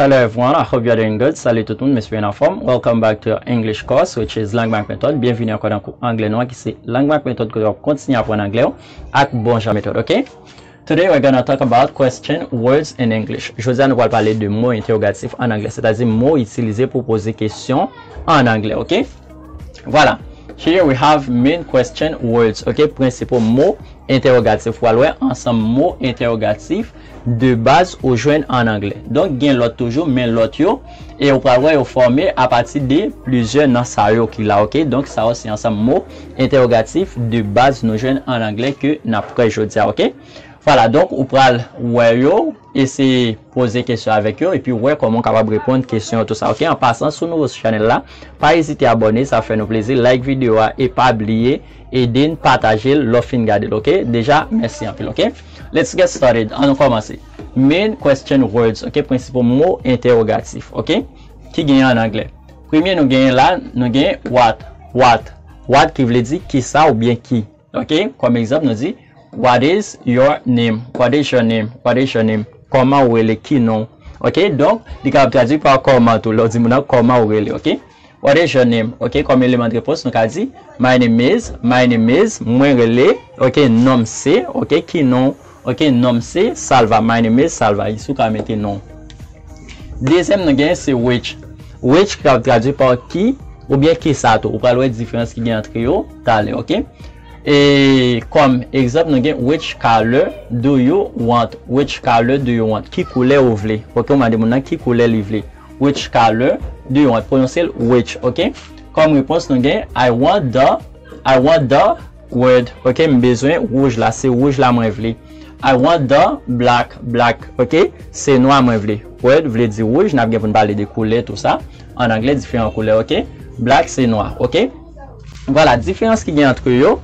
Hello everyone, I hope you are doing good Salut tout moun, m espere n anfòm Welcome back to your English course which is Langue Mac Method Byenvini ankò nan kou anglè nou an ki se Langue Mac Method kote w ap kontinye aprann anglè w ak bon jan metòd ok Today we're gonna talk about question words in English Jodi a nou pral pale de mo entewogatif an anglè sètadi mo w itilize pou w poze kesyon an anglè ok Vwala Here we have main question words ok prensipal mo entewogatif W pral wè ansanm mo entewogatif de baz ou jwenn an anglè. Donk gen lòt toujou men lòt yo e ou pral wè yo fòme a pati de plizyè nan sa yo ki la ok. Donk sa yo se ansanm mo entèwogatif de baz nou jwenn an anglè ke n ap wè jodi a ok. Vwala donk ou pral wè yo eseye poze kesyon avèk yo epi wè kòman ou kapab reponn kesyon yo tou sa ok. An pasan si w nouvo sou chanèl la pa ezite abòne sa ap fè nou plezi like videyo a e pa bliye ede n pataje l lè w fin gade l ok deja mèsi anpil ok. Let's get started An nou kòmanse Main question words ok Prensipal mo entèwogatif ok Ki genyen an anglè Premye nou genyen la Nou genyen What What What ki vle di Kisa oubyen ki ok Kòm egzanp nou di What is your name What is your name What is your name Kòman ou rele Ki non w ok Donk li kapab tradui pa kòman tou lè w di moun nan kòman ou rele ok. What is your name? Ok, kòm eleman de repons, nou ka di, My name is, My name is, Mwen rele, ok, non m se, ok, ki non w, ok, non m se, Salva, My name is Salva, isi w ka mete non w. Dezyèm nou genyen se which. Which ki kapab tradui pa ki oubyen ki sa tou. Ou pral wè diferans ki gen antre yo talè, ok. E kòm egzanp nou gen Which color do you want? Which color do you want? Ki koulè ou vle? Ok, ou mande moun nan ki koulè li vle. Which color do you want? Pwononse l which, ok? Kòm repons nou gen, I want the, I want the red, ok? M bezwen wouj la, se wouj la mwen vle. I want the black, black, ok? Se nwa mwen vle. Red vle di wouj, n ap gen pou n pale de koulè tou sa. An anglè, diferan koulè, ok? Black se nwa, ok? Vwala, diferans ki gen antre yo.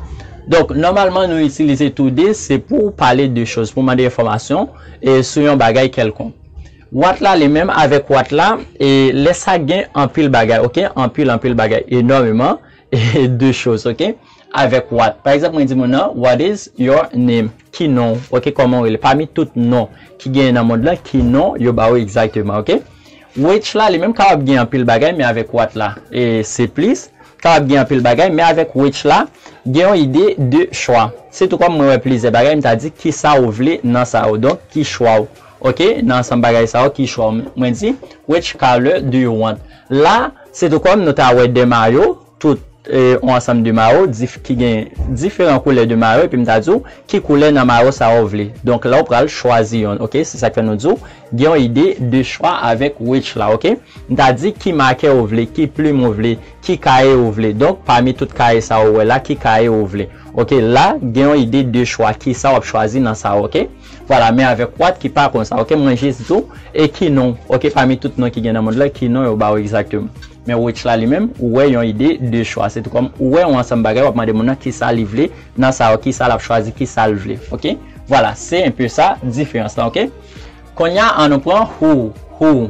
Donk, nòmalman nou itilize tou de, se pou w pale de choz, pou w mande enfòmasyon sou yon bagay kèlkonk. Watt la li menm avèk watt la e lè sa gen anpil bagay ok anpil anpil bagay enòmeman de choz ok avèk watt pa egzanp mwen di moun nan what is your name ki non ou ok kòman ou rele pami tout non ki genyen nan mond lan ki non yo ba ou egzakteman ok which la li menm kapab gen anpil bagay men avèk watt la e se plis kapab gen anpil bagay men avèk which la gen yon ide de chwa se tou kòm mwen wè plizyè bagay m ta di kisa ou vle nan sa yo donk ki chwa ou. Ok nan ansanm bagay sa yo ki chwa mwen di which color do you want la se tou kòm nou ta wè 2 mayo tout on ansanm de mayo dif ki gen diferan koulè de mayo epi m ta di w ki koulè nan mayo sa yo w vle donk la w pral chwazi yonn ok se sak fè nou di w gen yon ide de chwa avèk which la ok m ta di ki makè ou vle ki plim ou vle ki kaye ou vle donk pami tout kaye sa ou wè la ki kaye ou vle ok la gen yon ide de chwa kisa w ap chwazi nan sa ok. Vwala men avèk wat ki pa konsa ok mwen jis diw e ki non ok pami tout non ki gen nan mond lan ki non yo baw egzakteman men wotch la li menm ou wè yon ide de chwa se tou kòm ou wè yon ansanm bagay wap mande moun nan kisa li vle nan sa ok kisa lap chwazi kisal vle ok vwala se enpe sa diferans lan ok konnya an nou pran hoo hoo.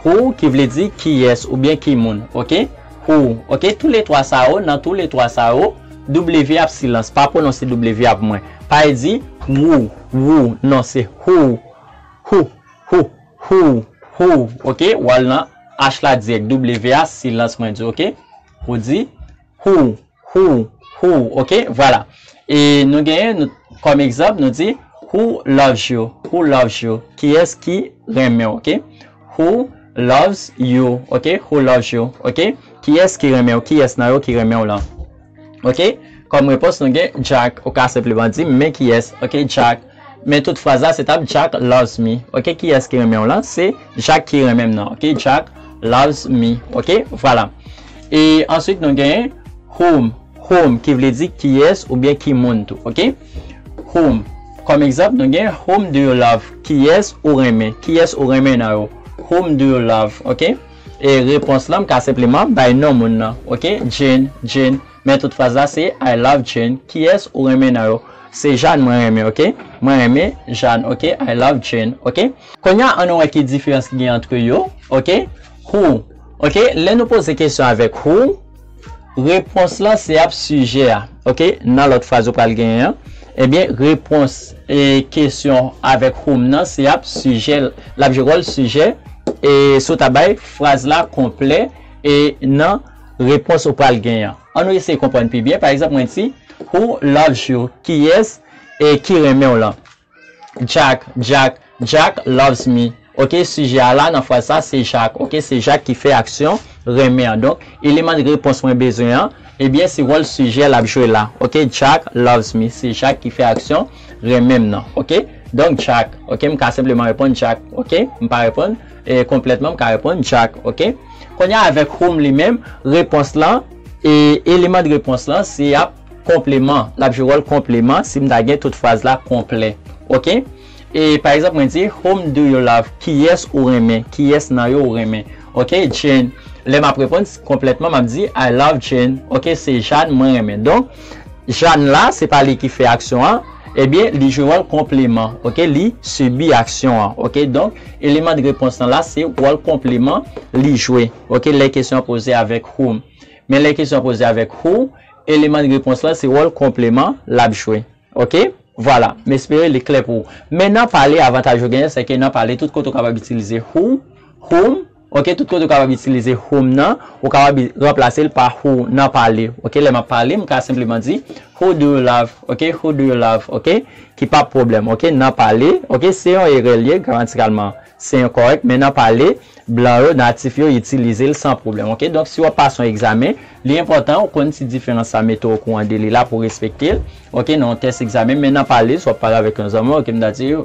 Who ki vle di kiyès oubyen ki moun ok Who ok tou le twa sa yo nan tou le twa sa yo W ap silans pa pwononse W ap mwen pa e di wou wou non se who Who who who who ok w al nan H la dirèk W a silans mwen di ok Who di who. Who, who, ok, vwala. E nou genyen nou kòm egzanp nou di Who loves you? Who loves you? Kiyès ki renmen w? Ok. Who loves you? Ok. Who loves you? Ok. Kiyès ki renmen w? Kiyès nan yo ki renmen w lan? Ok. Kòm repons nou gen Jack. Ou ka senpleman di m men kiyès. Ok, Jack. Men tout fraz la se tap Jack loves me ok kiyès ki renmenw lan se Jack ki renmenm nan ok Jack loves me ok vwala e answit nou gen whom whom ki vle di kiyès oubyen ki moun tou ok whom kòm egzanp nou gen whom do you love kiyès ou renmen kiyès ou renmen nan yo whom do you love ok e repons lan m ka senpleman bay non moun nan ok Jane Jane. Men tout fraz la se I love Jane kiyès ou renmen nan yo se Jane mwen renmen ok mwen renmen Jane ok I love Jane ok konnya an nou wè ki diferans ki gen antre yo ok who ok lè nou poze kesyon avèk who repons lan se ap sijè a ok nan lòt fraz ou pral genyen an ebyen repons e kesyon avèk whom nan se ap sijè l ap jwe wòl sijè e sou ta bay fraz la konplè e nan Repons ou pral gen an. An nou eseye konprann pi byen. Pa egzanp, mwen di, Who loves you? Kiyès ki renmen w lan? Jack, Jack, Jack loves me. Ok, sijè a la nan fraz sa se Jak. Ok, se Jak ki fè aksyon renmen an. Donk, eleman repons mwen bezwen an, ebyen se wòl sijè l ap jwe la. Ok, Jack loves me. Se Jak ki fè aksyon renmen m nan. Ok, donk Jack. Ok, m ka senpleman reponn Jack. Ok, m pa reponn. E konplètman m ka reponn Jack ok. Kounye a avèk whom li menm, repons lan, e eleman de repons lan se y ap konpleman, l ap jwe wòl konpleman si m ta gen tout fraz la konplè ok. E pa egzanp mwen di whom do you love, kiyès ou renmen, kiyès nan yo ou renmen ok. Jane, lè m ap reponn konplètman m ap di I love Jane ok, se Jane mwen renmen donk. Jeanne la se pa li ki fè aksyon an ebyen li jwe wòl konpleman ok li sibi aksyon an ok donk eleman de repons lan la se wòl konpleman li jwe ok lè kesyon an poze avèk who men lè kesyon an poze avèk who eleman de repons lan se wòl konpleman lap jwe ok vwala m espere li klè pou ou men nan pale avantaj ou genyen sèke nan pale tout kote ou kapab itilize who whom Ok tout kote ou kapab itilize home nan ou kapab ranplase l pa who nan pale ok lè map pale m ka senpleman di who do you love ok who do you love ok ki pap pwoblèm ok nan pale ok se yon erè l ye gramatikalman se enkòrèk men nan pale blan yo natif yo itilize l san pwoblèm ok donk si wap pase yon egzamen li enpòtan ou konn ti diferans sa mete w okouran de li la pou respekte l ok nan yon tès egzamen men nan pale si wap pale avèk yon zanmi w ok m ta di w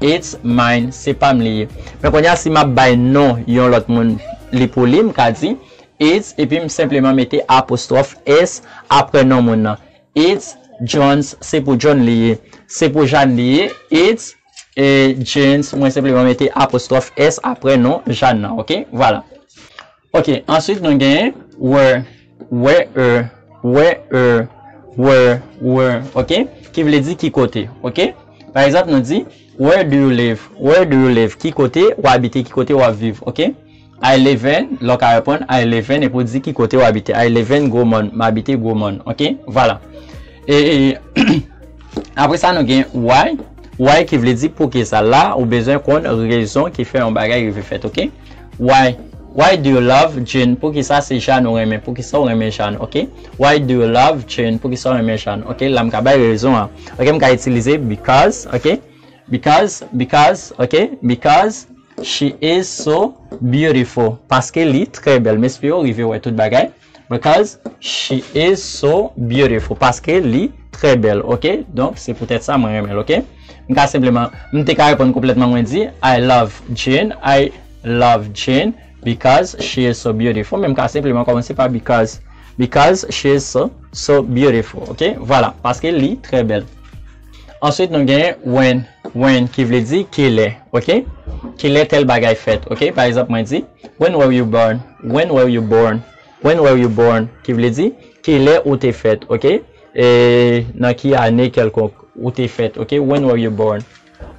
It's mine se pam li ye. Men konnya si map bay non yon lòt moun li pou li m ka di It's epi m senpleman mete apostwòf S aprè non moun nan It's Johns se pou John li ye Se pou Jane li ye It's Janes mwen senpleman mete apostwòf S aprè non Jane nan ok vwala. Ok, answit nou gen, were, where, where, were, where, ok, ki vle di ki kote, ok. Pa egzanp, nou di, Where do you live? Where do you live? Ki kote ou abite? Ki kote ou ap viv? Ok. I live in, la w ka reponn, I live in, epi w di ki kote ou abite. I live in Gwomòn. M abite Gwomòn. Ok. Vwala. E, apre sa nou gen, why, why ki vle di poukisa. La, ou bezwen konn rezon ki fè yon bagay rive fèt, ok. Why Why do you love Jane Poukisa se Jane ou renmen Poukisa ou renmen Jane ok Why do you love Jane Poukisa ou renmen Jane ok La m ka bay rezon an ok M ka itilize because ok Because Because ok Because she is so beautiful Paske li trè bèl M espere ou rive wè tout bagay. Because she is so beautiful paske li trè bèl ok donk se poutèt sa mwen renmen l ok m ka senpleman m te ka reponn konplètman mwen di I love Jane I love Jane because she is so beautiful men m ka senpleman kòmanse pa because because she is so so beautiful ok vwala paske li trè bèl answit nou gen when when ki vle di kilè ok kilè tèl bagay fèt ok pa egzanp mwen di when were you born. When were you born? When were you born? ki vle di, Kilè ou te fèt? ok e Nan ki ane kèlkonk ou te fèt? ok When were you born?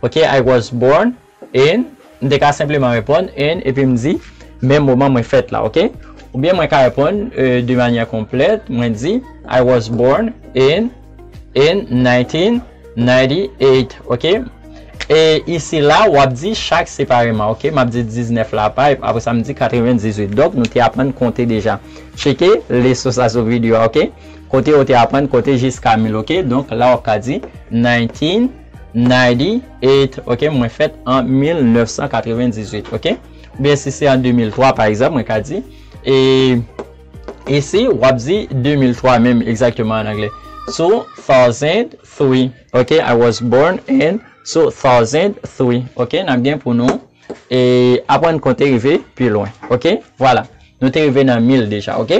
ok I was born in M te ka senpleman reponn in epi m di menm moman mwen fèt la. ok Oubyen mwen ka reponn de manyè konplèt, mwen di I was born in. In 1998 ok e isi la wap di chak separeman ok map di 19 la apa epi apresa m di 98 donk nou te aprann konte deja tcheke leson sa sou video a ok kote ou te aprann konte jiska 1000 ok donk la wap ka di 1998 ok mwen fèt an 1998 ok oubyen si se an 2003 pa egzanp mwen ka di e. Isi w ap di 2003 menm egzakteman an angle, Two thousand three, ok, I was born in two thousand three, ok, n ap gen pou nou aprann konte rive pi lwen, ok, vwala, nou te rive nan mil deja, ok.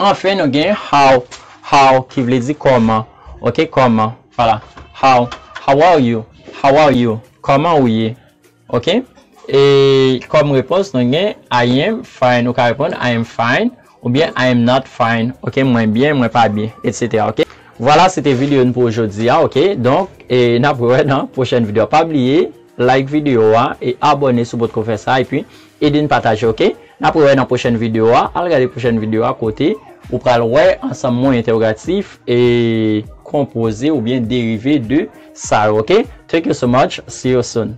Anfen nou gen how, how ki vle di kòman, ok, kòman, vwala, how, how are you, how are you, kòman ou ye. Ok e kòm repons nou gen I am fine ou ka reponn I am fine oubyen I am not fine ok mwen byen mwen pa byen etc ok. Vwala se te video n pou jodi a ok donk e nap wè nan pwochèn video pa bliye like video a e abòne sou potko fè sa epi Ede n pataje ok. Nap re wè nan pwochèn video a. Al gade pwochèn video a kote ou pral wè ansanm mo entèwogatif e konpoze oubyen derive de sa yo ok. Thank you so much, see you soon.